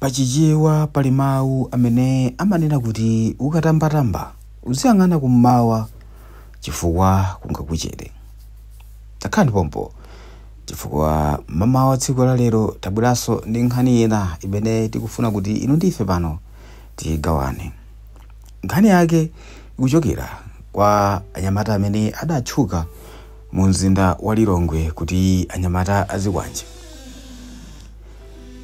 Pa Chichewa pali mawu amene amanena kuti ukatambatamba uziyang'ana kum'mawa chifukwa kungakuchere. Takhalani pompo chifukwa mamawa tsiku la lero tabweranso ndi nkhani ina imene tikufuna kuti inu ndi ife pano tigawane. Nkhani yake ikuchokera kwa anyamata amene adatchuka mu mzinda wa Lilongwe kuti anyamata azikwanje.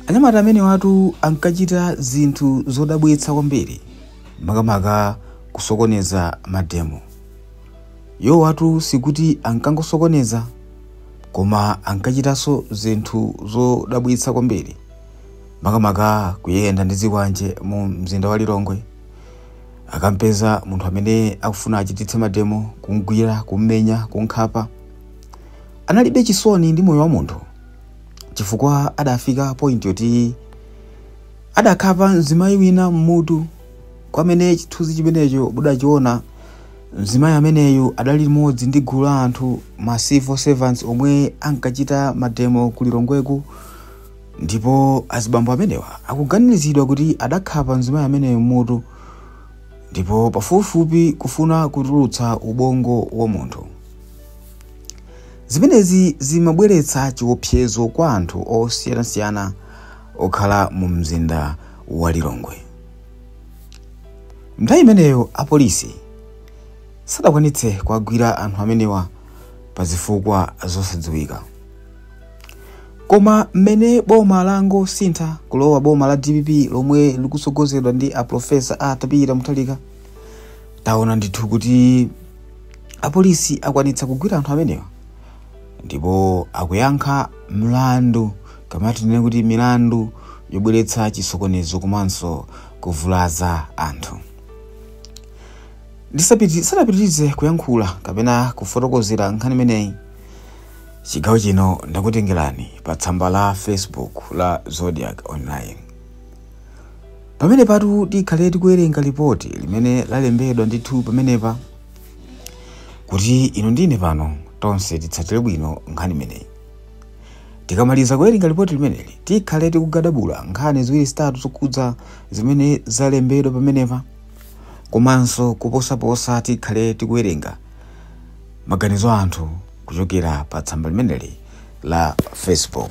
Anyamata amenewatu ankachita zinthu zodabwitsa kwambiri, makamaka kusokoneza mademo. Iwowatu sikuti ankangosokoneza, koma ankachitanso zinthu zodabwitsa kwambiri, makamaka kuyenda ndi zikwanje mu mzinda wa Lilongwe. Akampeza munthu amene akufuna achititse mademo, kumgwira, kummenya, kunkhapa. Analibe chisoni ndi moyo wa munthu. chifukwa adafika point yoti adakhapa mzimayi wina mmutu kwamene chithunzi chimenecho mudachiona mzimayi ameneyu adali limodzi ndi gulu la anthu ma civil servants omwe ankachita mademo ku lilongweku ndipo azibambo amenewa akuganiziridwa kuti adakhapa mzimayi ameneyo mmutu ndipo pafupifupi kufuna kutulutsa ubongo wa munthu Zimenezi zimabweretsa chiopsezo kwa anthu osiyanasiyana okhala mu mzinda wa Lilongwe. Nthawi imeneyo apolisi sadakwanitse kuwagwira anthu amenewa pa zifukwa zosadziwika. Koma mmene boma langosintha kulowa boma la dpp lomwe likutsogozedwa ndi a Profesa Arthur Peter Mutharika, taona ndithu kuti apolisi akwanitsa kugwira anthu amenewa ndipo akuyankha mlandu kapena tinene kuti milandu yobweretsa chisokonezo komanso kuvulaza anthu ndisanapitirize kuyankhula kapena kufotokozera nkhani imeneyi chigawo chino ndakutengerani pa tsamba la facebook la zodiac online Pamenepatu tikhale tikuwerenga lipoti limene lalembedwa ndithu pamenepa kuti inu ndi ine pano tonse titsatire bwino nkhani imeneyi. Tikamaliza kuwerenga lipoti limeneli tikhale tikugadabula nkhani ziwiri zitatu zokhudza zimene zalembedwa pamenepa komanso kuposaposa tikhale tikuwerenga maganizo a anthu kuchokera pa tsamba limeneli la Facebook.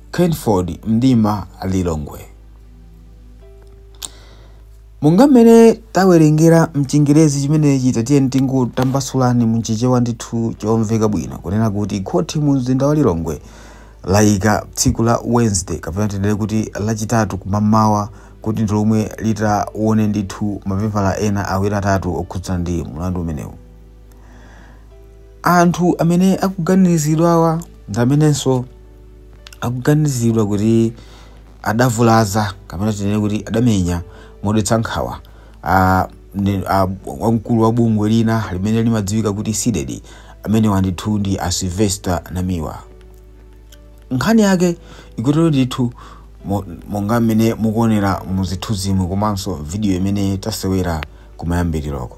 by Kenford Mdima Lilongwe. Monga mmene tawerengera mchingerezi chimenechi tatiyeni tingotambasulani mchichewa ndithu chomveka bwino kunena kuti khoti mu mzinda wa Lilongwe layika tsiku la Wednesday kapena tinene kuti lachitatu kumamawa kuti ndi lomwe litawone ndithu mapepala ena awiri atatu okhudzana ndi mlandu umenewu. anthu amene akuganizidwawa ndi amenenso akuganizidwa kuti adavulaza kapena tinene kuti adamenya modetsa nkhawa a- ne- a- wamkulu wa bungwe lina limene limadziwika kuti CDEDI amenewa ndithu ndi a sylvester namiwa nkhani yake ikutero ndithu mo- monga mmene mukuonera mu zithunzimu komanso vidiyo imene tasewera kumayambiriroko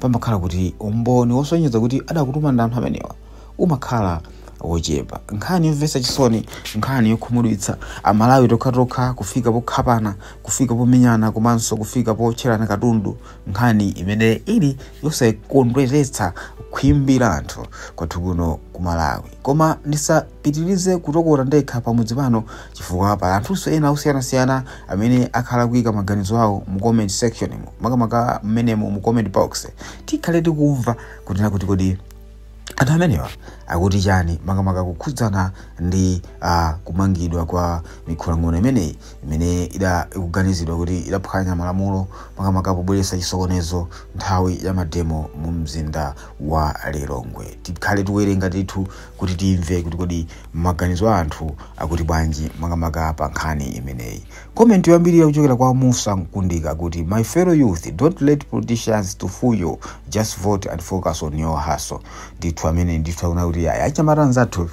pamakhala kuti umboni wosonyeza kuti adakutuma ndi anthu amenewa umakhala wochepa nkhani yomvetsa chisoni nkhani yokhumudwitsa amalawi tokhatokha kufika pokhapana kufika pomenyana komanso kufika potcherana katundu nkhani imene ili yosakondweretsa khwimbi la anthu kwathu kuno ku malawi koma ndisapitirize kutokota ndekha pamudzi pano chifukwa pali anthunso ena osiyanasiyana amene akhala kuika maganizo awo mu comment section makamaka mmenemo mu comment box tikhale tikumva kunena kuti kodi anthu amenewa akuti chani makamaka kukhudzana ndi uh, kumangidwa kwa mikhulang'ona imeneyi imene ida ikuganizidwa kuti idaphwanya malamulo makamaka pobweretsa chisokonezo nthawi ya mademo mu mzinda wa lilongwe tikhale tikuwerenga ndithu kuti timve kuti kodi maganizo a anthu akuti bwanji makamaka pa nkhani imeneyi komenti yoyambirira kuchokera kwa musa mkundika akuti my fellow youth don't let politicians to fool you just vote and focus on your hustle ndithu amene ndithu akunena kuti ayi achinyamata anzathu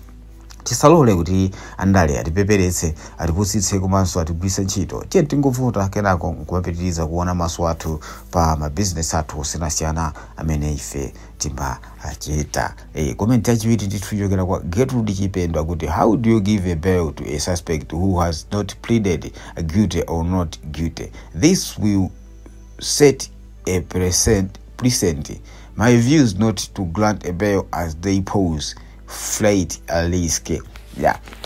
tisalole kuti andale atipeperetse atipusitse komanso atigwiritse ntchito tiye tingovota kenako nkumapitiriza kuona maso athu pa mabizinesi athu osiyanasiyana amene ife timachita Eh, comment yachiwiri ndithu ichokera kwa Gertrude Chipendo akuti how do you give a bail to a suspect who has not pleaded guilty or not guilty this will set a precedent. my view is not to grant a bail as they pose flight a risk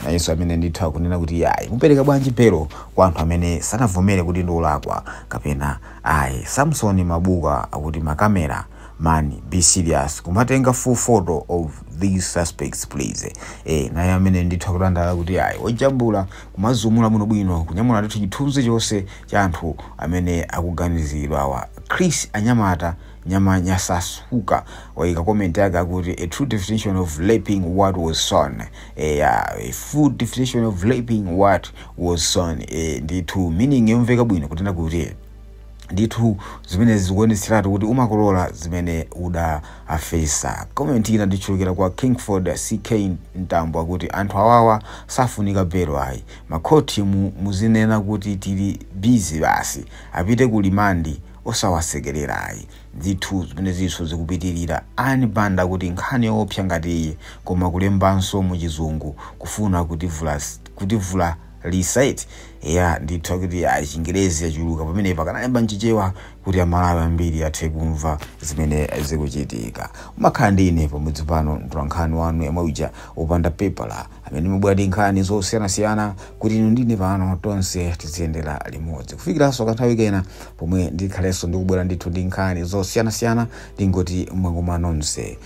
nayenso amene ndithu akunena kuti ayi mupereka bwanji belo kwa anthu amene sanavomere kuti ndi olakwa kapena ayi samsoni mabuka akuti makamera man be serious kumatenga full photo of these suspects please eh naye amene ndithu akudandaula kuti ayi ojambula kumajambula bwinobwino kunyamula ndithu chithunzi chonse cha anthu amene akuganiziridwa awa chris anyamata nyama nyasasuka waika comment yake akuti a true definition of reaping what was sown eh, yeah, a true definition of reaping what was sown eh, ndithu meaning yomveka bwino kunena kuti ndithu zimenezi zikuonetseratu kuti umakolola zimene udafesa comment ina ikuchokera kwa kingford ck mtambo akuti anthu awawa safunika bail ayi makhoti muzinena kuti tili busy basi apite ku remand osawasekerera ayi ndithu zimenezinso zikupitirira Annie Banda akuti nkhani yoopsa ngati iyi koma kulembanso muchizungu kufuna kutivula kutivula Lee said, Eya, ndithu akuti ayi chingerezi chachuluka pamenepa akanalemba mchichewa kuti amalawi ambiri athe kumva zimene zikuchitika. Munakhala ndi ine pamodzi pano mtolankhani wanu yemwe uja wopanda pepala amene ndimabwera ndi nkhani zosiyanasiyana kuti inu ndi ine pano tonse tiziyendera limodzi kufikiranso kanthawi kena pomwe ndikhalenso ndikubwera ndithu ndi nkhani zosiyanasiyana ndingoti mwakoma nonse.